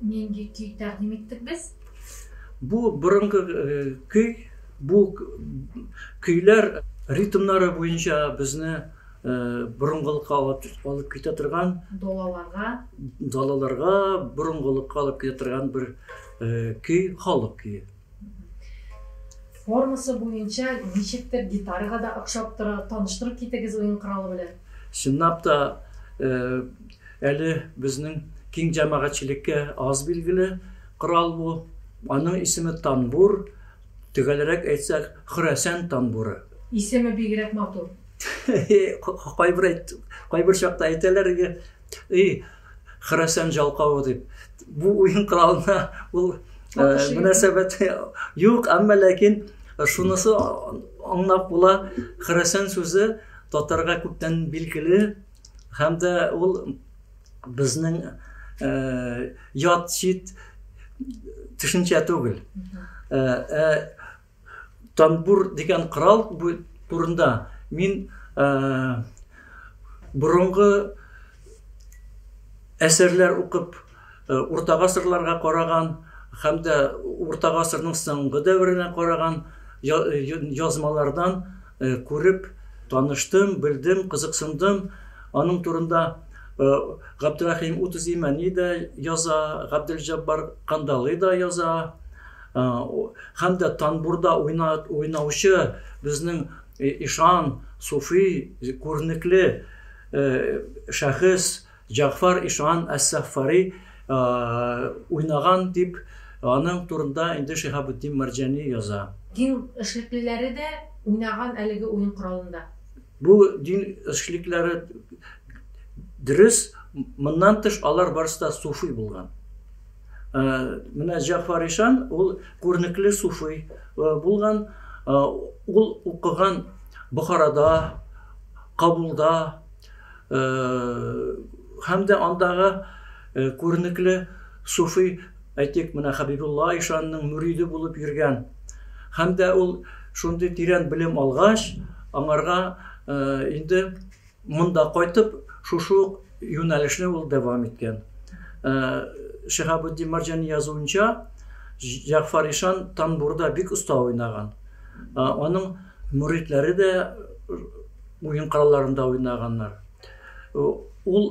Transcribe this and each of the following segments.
Нинди көй тәкъдим иттек без? Бу борынгы көй, бу көйләр ритмнары буенча безне борынгылыкка алып китә торган далаларга далаларга борынгылыкка алып китә торган бер көй, халык көе. Формасы буенча ничектер гитарага да охшап тора. Таныштырып китегез уен коралы белән. Чынлап та, әле безнең киң җәмәгатьчелеккә аз билгеле корал бу. Аның исеме танбур, төгәлрәк әйтсәк, Хөрәсән танбуры. Исеме бигрәк матур. Кайбер чакта әйтәләр иде, И, Хөрәсән җалкавы дип. Бу уен коралына ул мөнәсәбәт юк, әмма ләкин шунысы аңлап була, Хөрәсән сүзе татарга күптән билгеле һәм дә ул безнең ят чит төшенчә түгел. Тамбур дигән корал турында мин борынгы әсәрләр укып, урта гасырларга караган һәм дә урта гасырның соңгы дәверенә караган язмалардан күреп таныштым, белдем, кызыксындым. Аның турында Габдрәхим Утызимәни дә яза, Габделҗәббар Кандалый да яза. Һәм дә танбурда уйнаучы безнең ишан, суфи, күренекле шәхес Җәгъфар ишан әс-Саффари уйнаган дип, аның турында инде Шиһабетдин Мәрҗани яза. Дин эшлеклеләре дә уйнаган әлеге уен коралында. Бу дин эшлеклеләре дөрес, моннан тыш алар барысы да суфи булган. Менә Җәгъфар ишан ул күренекле суфи булган. Ул укыган Бохарада, Кабулда һәм дә андагы күренекле суфи, әйтик, менә Хәбибулла ишанның мөриде булып йөргән. Һәм дә ул шундый тирән белем алгач, аңарга инде Монда кайтып, шушы ук юнәлешне ул дәвам иткән. Шиһабетдин Марҗани язуынча, Җәгъфар ишан танбурда бик оста уйнаган. Аның мөридләре дә уен коралларында уйнаганнар. Ул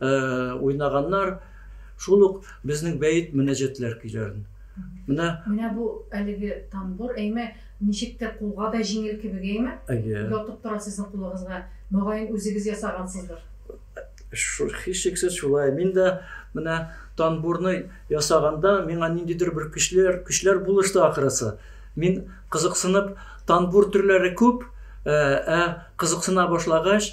уйнаганнар, шул ук безнең бәет мөнәҗәтләр көйләрен. Менә Менә бу әлеге тамбур, әйме, ничек тә кулга да җиңел кебек, әйме? Әйе. Ятып тора сезнең кулыгызга. Мөгаен, үзегез ясагансыздыр. Һичшиксез шулай. Мин дә менә тамбурны ясаганда миңа ниндидер бер көчләр, көчләр булышты ахрысы. Мин кызыксынып, тамбур төрләре күп, ә кызыксына башлагач,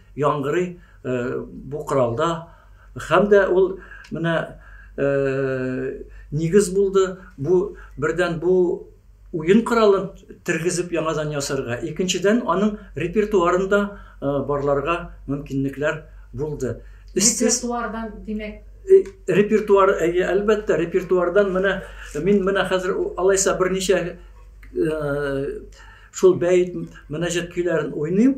яңгырый бу коралда һәм дә ул менә нигез булды бу бердән бу уен коралын тергезеп яңадан ясарга икенчедән аның репертуарын да барларга мөмкинлекләр булды репертуардан димәк репертуар әйе әлбәттә репертуардан менә мин менә хәзер алайса берничә шул бәет мөнәҗәт көйләрен уйныйм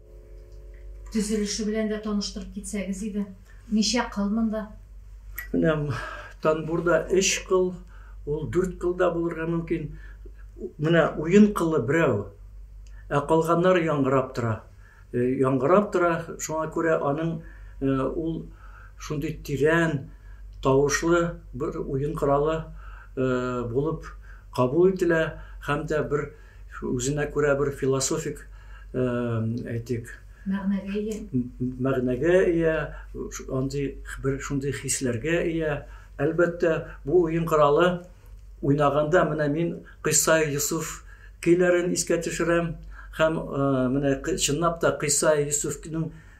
Төзелеше белән дә таныштырып китсәгез иде. Ничә кыл монда? Менә тамбурда өч кыл, ул дүрт кыл да булырга мөмкин. Менә уен кылы берәү, ә калганнары яңгырап тора. Э, яңгырап тора, шуңа күрә аның э, ул шундый тирән тавышлы бер уен коралы э, булып кабул ителә һәм дә бер Үзенә күрә бер философик, әйтик. Мәгънәгә ия. Мәгънәгә ия, андый бер шундый хисләргә ия. Әлбәттә, бу уен коралы уйнаганда менә мин Кыйсай Йосыф көйләрен искә төшерәм һәм менә чынлап та Кыйсай Йосыфның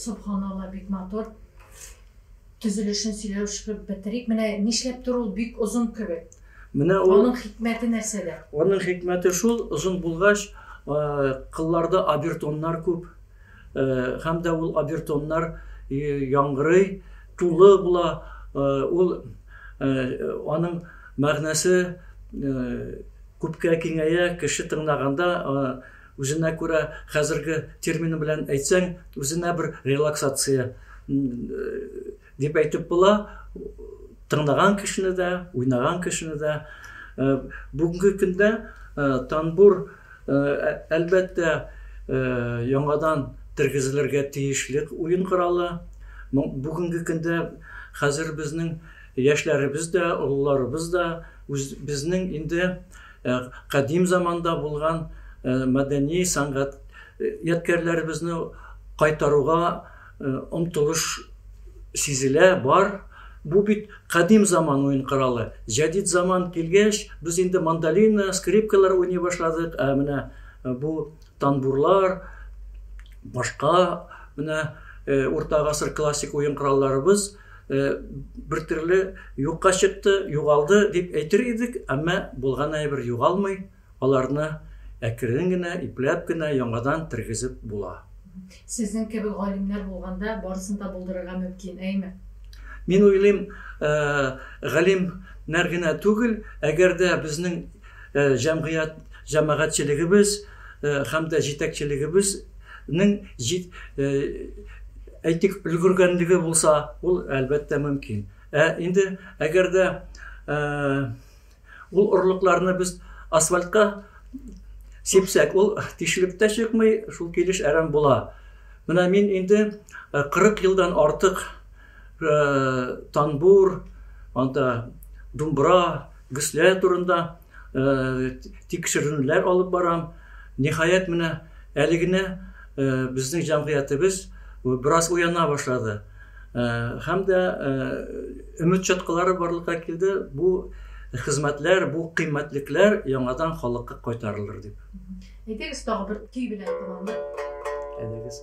Субханалла, бик матур. Төзелешен сөйләшеп бетерик. Менә нишләптер ул бик озын кебек. Менә ул Аның хикмәте нәрсәдә? Аның хикмәте шул, озын булгач, кылларда обертоннар күп. Һәм дә ул обертоннар яңгырый, тулы була, ул аның мәгънәсе күпкә киңәя, кеше тыңлаганда үзенә күрә хәзерге термин белән әйтсәң, үзенә бер релаксация Дип әйтеп була, тыңлаган кешене дә, уйнаган кешене дә. Э, бүгенге көндә э, танбур, э, әлбәттә, яңадан тергезелергә тиешлек уен коралы. Бүгенге көндә хәзер безнең яшьләребез дә, олыларыбыз да безнең инде кадим заманда булган мәдәни сәнгать ядкәрләребезне кайтаруга омтылыш сизелә, бар. Бу бит кадим заман уен коралы. Җәдит заман килгәч, без инде мандолина, скрипкалар уйный башладык, ә менә бу танбурлар, башка менә урта гасыр классик уен коралларыбыз бер төрле юкка чыкты, югалды дип әйтер идек, әмма булган әйбер югалмый. Аларны әкрен генә, ипләп кенә яңадан тергезеп була. Сезнең кебек галимнәр булганда, барысын да булдырырга мөмкин, әйме? Мин уйлыйм, галимнәр генә түгел, әгәр дә безнең җәмгыять, җәмәгатьчелегебез һәм дә җитәкчелегебезнең, әйтик, өлгергәнлеге булса, ул, әлбәттә, мөмкин. Ә инде әгәр дә... Ул орлыкларны без асфальтка сипсәк, ул тишелеп тә чыкмый, шул килеш әрәм була. Менә мин инде 40 э, елдан артык э, танбур, анда думбра, гөслә турында э, тикшеренүләр алып барам. Ниһаять, менә әле генә безнең җәмгыятебез бераз уяна башлады. Һәм дә өмет чаткылары барлыкка килде. Бу хезмәтләр, бу кыйммәтлекләр яңадан халыкка кайтарылыр дип. Әйдәгез, тагы бер көй белән тәмамлыйк. Әйдәгез.